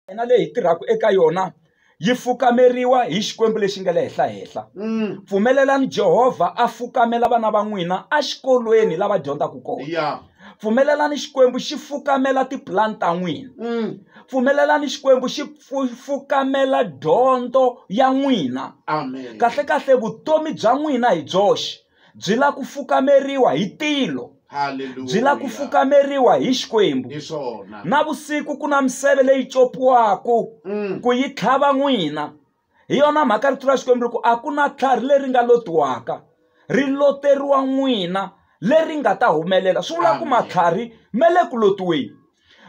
hina leyi hi tirhaka eka yona yi fukameriwa hi Xikwembu lexi nga le henhla-henhla. Pfumelelani Jehovha a fukamela vana va n'wina exikolweni lava dyondzaka kona. Yeah. Pfumelelani Xikwembu xi fukamela tipulani ta n'wina. Pfumelelani Xikwembu xi pfu- fukamela dyondzo ya n'wina. Amen. Kahle-kahle vutomi bya n'wina hi byoxe. byi la ku fukameriwa hi tilo byi la ku fukameriwa hi xikwembu na vusiku ku na miseve leyi copiwaku mm. ku yi tlhava n'wina hi yona mhaka rito ra xikwembu ri ku a ku na tlhari leri nga lotiwaka ri loteriwa n'wina leri nga ta humelela swi vula ku matlhari me le ku lotiweni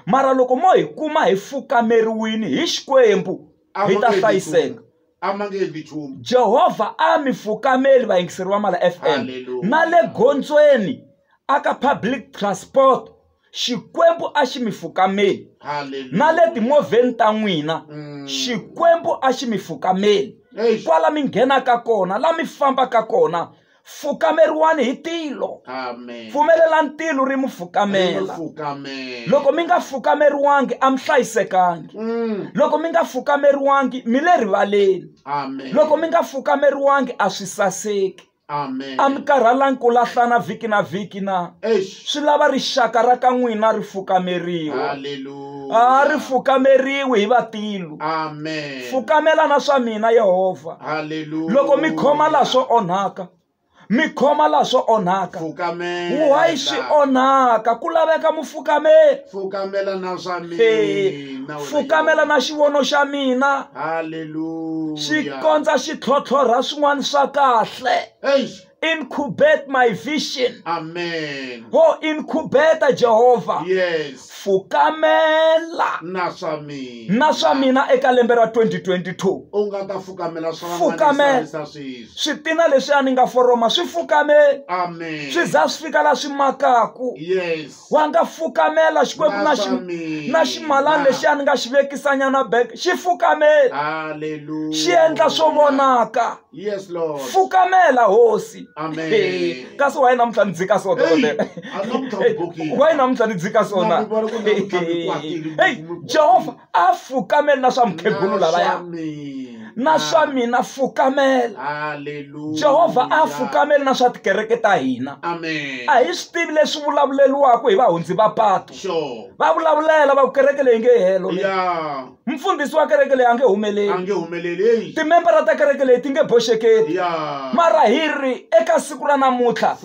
mara loko mo hi kuma hi fukameriwini hi xikwembu hi ta hlayiseka a ma nge endli nchumu jehovha a mi fukameli vayingiseri va mala fm Hallelujah. na le gondzweni aka public transport xikwembu a xi mi fukameli haleluya na le timovheni ta n'wina Mm. xikwembu a xi mi fukameli Eish. kwala mi nghenaka kona la mi fambaka kona fukameriwani hi tilo Amen. pfumelelani tilo ri mu fukamela Amen. loko mi nga fukameriwangi a mi hlayisekangi Mm. loko mi nga fukameriwangi mi le rivaleni Amen. loko mi nga fukameriwangi a swi saseki Amen. a mi karhalangi ku lahlana vhiki na vhiki na Eish. swi lava rixaka ra ka n'wina ri fukameriwa a Hallelujah. ri fukameriwi hi vatilu Amen. fukamela na swa mina yehovha Hallelujah. loko mi khoma laha swo onhaka mi khoma laha swo onhaka Fukamela. wayi swi onhaka ku laveka mufukameli Fukamela na swa Eh, mina. wena fukamela Yehovha. na xivono xa mina Hallelujah. xi kondza xi tlhotlhorha swin'wana swa kahle Eish. incubate my vision amen wo incubeta jehovha yes fukamela na swa mina na swa mina eka lembe ra 2022 u nga ta fukamela swa Fukamela. van'wana sweswi switina leswi a ni nga foroma swi fukame amen swi za swi fika la swi makaku yes wa nga fukamela xikwembu na xi na ximalani lexiya ni nga xi vekisanyana bek xi fukameli xi endla swo vonaka fukamela hosi kasi wa yi namuntlha ni dzika so dokodela wa yi namuntlha ni dzika sona heyi jehovha a fukameli na swa mukhegulu lavaya na swa mina fukamela jehovha a fukameli na swa tikereke ta hina a hi swi tivi leswi vulavuleriwaka hi vahundzi va patu va vulavulela va ku kereke leyi nge helo mfundhisi wa kereke leyi a nge humeleli timembara ta kereke leyi ti nge boxekeli mara hi ri eka siku ra namuntlha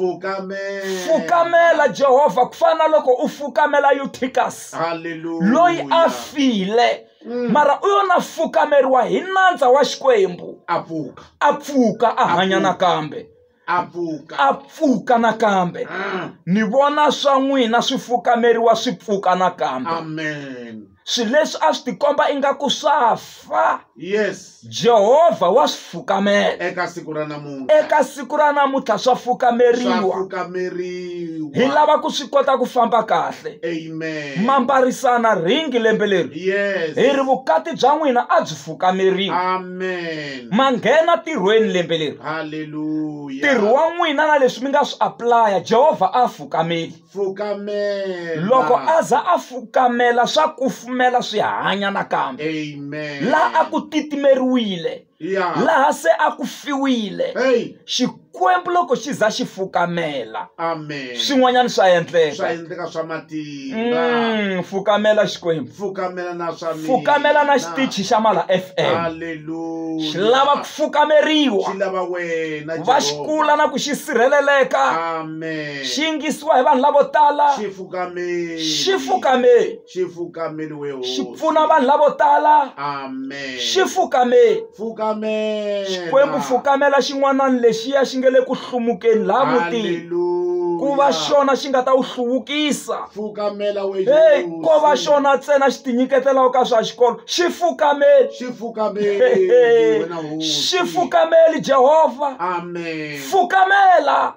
fukamela jehovha ku fana na loko u fukamela uticas Hallelujah. loyi a file Mm. mara u yona fukameriwa hi nandza wa xikwembu a pfuka a pfuka a hanya pfuka. nakambe a pfuka a pfuka nakambe Ah, ni vona swa n'wina swi fukameriwa swi pfuka nakambe amen swilo leswi a swi tikomba ingaku swa fa yes jehovha wa swi fukamela eka siku ra namuntlha eka siku ra namuntlha swa swa fukameriwa fukameriwa hi lava ku swi kota ku famba kahle amen mambarisana ringi lembe leri yes hi ri vukati bya n'wina a byi fukameriwa amen ma nghena tirhweni lembe leri haleluya ntirho wa n'wina na leswi mi nga swi aplaya jehovha a fukameli fukamela loko a za a fukamela swa kufumela swi hanya nakambe amen laha a ku titimeriwile yeah laha se a ku fiwile hey xikwembu loko xi za xi fukamela amen swin'wanyana swa swa endleka endleka swa matimba Mm, fukamela xikwembu fukamela na swa mina fukamela na xitichi xa mala fm haleluya xi lava ku fukameriwa xi lava wena va xi Jehovah. kula na ku xi sirheleleka Amen. Amen. xi yingisiwa hi vanhu lavo tala Xifukameli. xi fukameli Xifukameli we hosi. xi pfuna vanhu lavo tala Amen. xi fukameli Fukamela. xikwembu fukamela xin'wanani lexiya xi nge le ku hlumukeni laha mutini Hallelujah. ku va xona xi nga ta wu hluvukisa Fukamela we heyi Yesu. ko va xona ntsena xi tinyiketelaka ka swa xikolo xi fukameli Xifukameli wena hosi. xi fukameli jehovha Amen. fukamela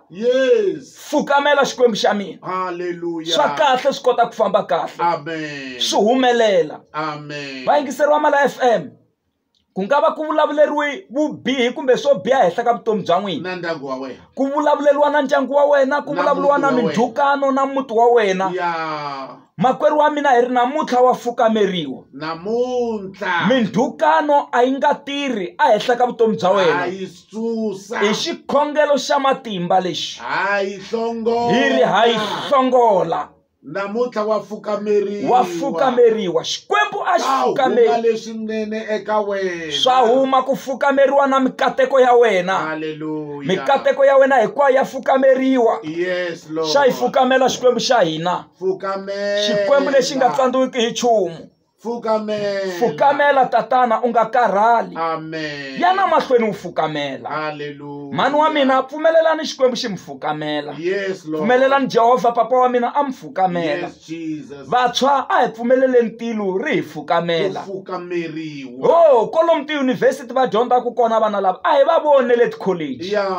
fukamela xikwembu xa mina swa kahle swi kota ku famba kahle swi humelela vayingiseriwa mala f m ku nga va ku vulavuleriwe vubihi kumbe swo biha henhla ka vutomi bya n'wina ku vulavuleriwa na ndyangu wa wena ku vulavuriwa na mindzhukano na muti wa wena Makwerhu wa mina hi ri namuntlha wa fukameriwa. Namuntlha. Mindhukano a yi nga tirhi a henhla ka vutomi bya wena. Ha yi susa. Hi xikhongelo xa matimba lexi. Ha yi hlongola. Hi ri ha yi hlongola. Namuntlha wa fukameriwa. Wa fukameriwa. Xikwembu a xi fukameriwa. leswinene eka wena. Swa huma ku fukameriwa na mikateko ya wena. Hallelujah. Mikateko ya wena hinkwayo ya fukameriwa. Yes Lord. Xa yi fukamela Xikwembu xa hina. xikwembu lexi nga tsandziwiki hi nchumu fukamela fukamela tatana u nga karhali amen yana mahlweni wu fukamela hallelujah mhani wa mina pfumelelani xikwembu xi mi fukamela yes lord pfumelelani jehovha papa wa mina a mi fukamela yes jesus vantshwa a hi pfumeleleni tilo ri hi fukamela fukameriwa ho kolomu tiyunivhesiti va dyondzaka kona vana lava a hi va voni le tikholeji ya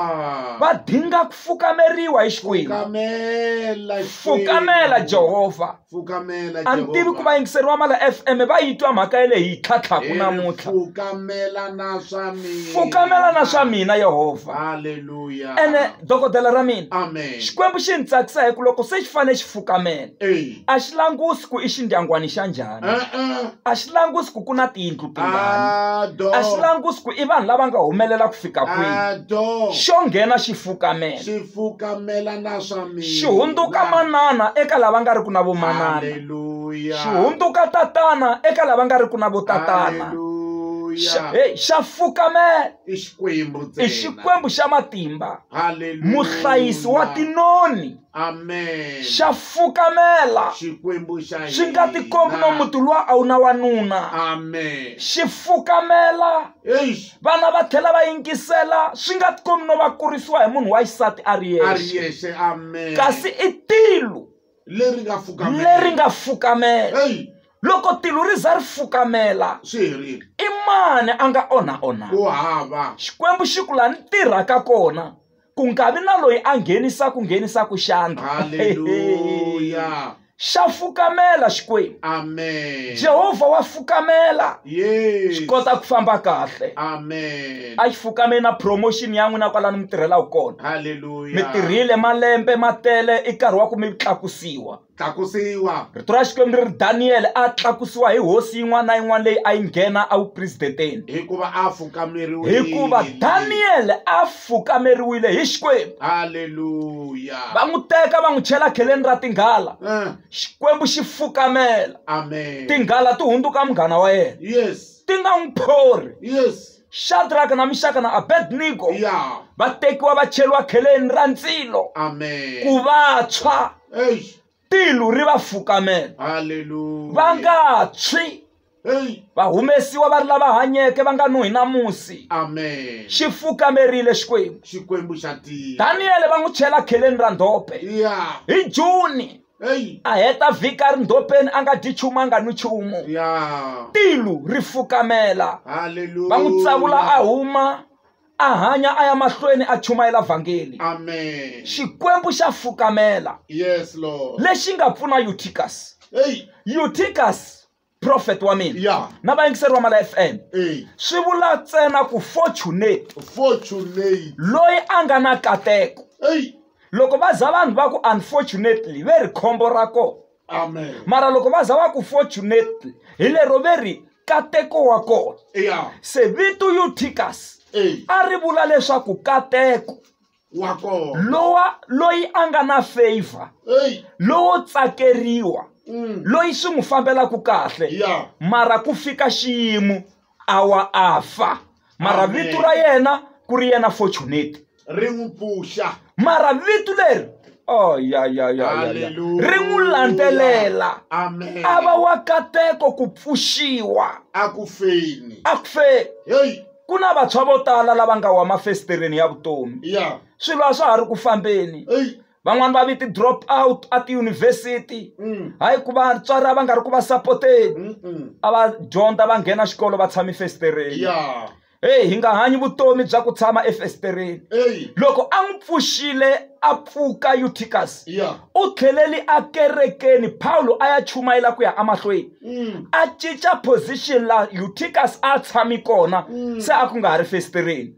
va dinga ku fukameriwa hi xikwembu fukamela Xikwembu. fukamela jehovha fukamela a ni tivi Jehovah. ku vayingiseri wa mala fm va yi twa mhaka ya le hi tlhatlhaku Ere, namuntlha fukamela na swa mina fukamela na swa mina yehovha haleluya ene dokodela ra mina amen xikwembu xi ni tsakisa hi ku loko se xi fanele xi fukamela Amen. a xi langusi ku i xindyangwani xa njhani a xi langusi ku ku na tiyindlu tingani a xi langusi ku i vanhu lava nga humelela ku fika kwihi xo nghena xi fukamela xi fukamela na swa mina xi hundzuka manana eka lava nga ri ku na vomanana xi hundzuka tatana eka lava nga ri ku na votatana hey xa fukamela i xikwembu xa matimba muhlayisi wa tinoni amen xa fukamela xikwembu xa xi nga hina. tikombi no muti luwa a wu na wanuna amen xi fukamela eish vana va tlhela va yingisela swi nga tikombi no va kurisiwa hi munhu wa xisati a ri a ri yexe yexe amen kasi i tilu leri nga fukamela leri nga fukamela ei loko tilu ri za ri fukamela swi herile i mani a nga onha onha ku hava xikwembu xi ku la ni tirhaka kona ku nga vi na loyi a nghenisaka nghenisaka xandla haleluya xa fukamela xikwembu amen jehovha wa fukamela yes swi kota ku famba kahle amen a xi fukame na promotion ya n'wina kwalani mi tirhelaka kona mi haleluya tirhile malembe ma tele i nkarhi wa ku mi tlakusiwa tlakusiwa. Rito ra Xikwembu ri ri, Daniyele a tlakusiwa hi hosi yin'wana na yin'wana leyi a yi nghena evupresidenteni. Hikuva a fukameriwile. Hikuva Daniyele a fukameriwile hi Xikwembu. Haleluya. Va n'wi teka va n'wi chela kheleni ra tinghala. Eh. Xikwembu xi fukamela. Amen. Tinghala ti hundzuka munghana wa yena. Yes. Ti nga n'wi phori. Yes. shadraka na mixaka na abednego Yeah. va tekiwa va cheriwa kheleni ra ndzilo ku Amen. va tshwa Hey. tilu ri va fukamela va Hallelujah. nga tshwi Hey. va humesiwa va ri lava hanyeke va nga nuhi na musi Amen. xi fukamerile xikwembu Xikwembu xa tiya. daniyele va n'wi chela kheleni ra ndhope Yeah. hi juni a heta vhiki a ri ndhopeni a nga dyi nchumu a nga nwi nchumu tilu ri fukamela va n'wi tsavula a huma a hanya a ya mahlweni a chumayela vhangeli xikwembu xa fukamela lexi nga pfuna uticus uticus prophet wa mina ya na vayingiseri va mala fm eh, swi vula ntsena ku fortunate fortunate loyi a nga na kateko ei loko va za vanhu va ku unfortunately ve ri khombo ra kona amen mara loko va za va ku fortunately hi lero ve ri kateko wa kona ya se vito euticus ei a ri vula leswaku kateko wa kona lowa loyi a nga na favor Hey. lowo tsakeriwa Mm. loyi swi n'wi fambelaka kahle Yeah. mara ku fika xiyimo a wa a fa mara Amen. vito ra yena ku ri yena fortunate ri n'wi pfuxa mara vito leri oh, ya, ya, ya, ya, ya. Hallelujah. ri n'wi landzelela amen a va wa kateko ku pfuxiwa a ku feni a ku fe heyi ku na vantshwa vo tala lava nga wa mafesitereni ya vutomi ya swilo a swa ha ri ku fambeni eyi van'wani va vi ti-drop out a tiyunivhesiti Mm. hayi ku vatswari a va nga ri ku va sapoteni Mm-mm. a va dyondza va nghena xikolo va tshami fesitereni ya heyi hi nga hanyi vutomi bya ku tshama efesitereni eyi loko a n'wi pfuxile a pfuka yutikasi ya u tlheleli ekerekeni pawulo a ya chumayela ku ya emahlweni mm. a cinca position la uticus a tshami kona mm. se a ku nga ha ri fesitireni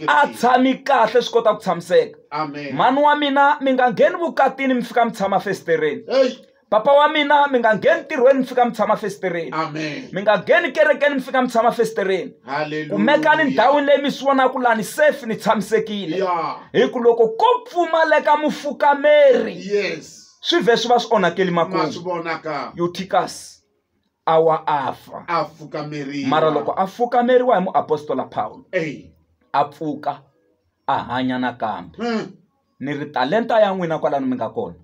a tshami kahle swi kota ku tshamiseka mhani wa mina mi nga ngheni vukatini mi fika mi tshama fesitireni papa wa mina mi nga ngheni ntirhweni mi fika mi tshama fesitireni mi nga ngheni kerekeni mi fika mi tshama fesitireni kumekani ndhawini leyi mi swi vonaka lani safe ni tshamisekile hi ku loko ko pfumaleka mufukameri yes. swi vhe swi va swi onhakeli ma swi makumu vona ka yutikasi a wa a fa a fukameriwa mara loko a fukameriwa hi muapostola pawulo Ey. a pfuka a hanya nakambe Hmm. ni ri talenta ya n'wina kwalano mi nga kona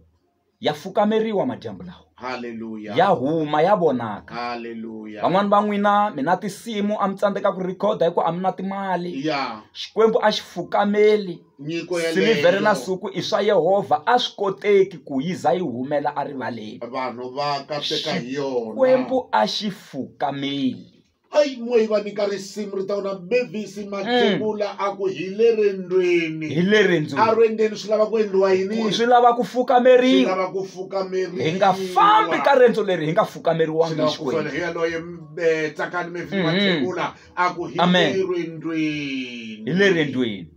ya fukameriwa madyambu lawa ya haleluya huma ya vonaka haleluya van'wani va n'wina mi na tinsimu a mi tsandzeka ku rhikhoda hi ku a mi na timali ya xikwembu a xi fukameli Nyiko yeleyo. Silivhere na nsuku i swa Yehovha, a swi koteki ku yi za yi humela erivaleni. Vanhu va katseka hi yona. Xikwembu a xi fukameli. Ai moyi va nyika risimu ri ta wona Mavis mm. Mathebula a ku hi le rendweni hi le rendzweni a rendweni swi lava ku endliwa yini swi lava ku fukameriwa lava ku fukameriwa hi nga fambi ka rendzo leri hi nga fukameriwanga hi Xikwembu hi yaloye eh, tsakani Mavis mm-hmm. Mathebula a ku hi le rendweni hi le rendweni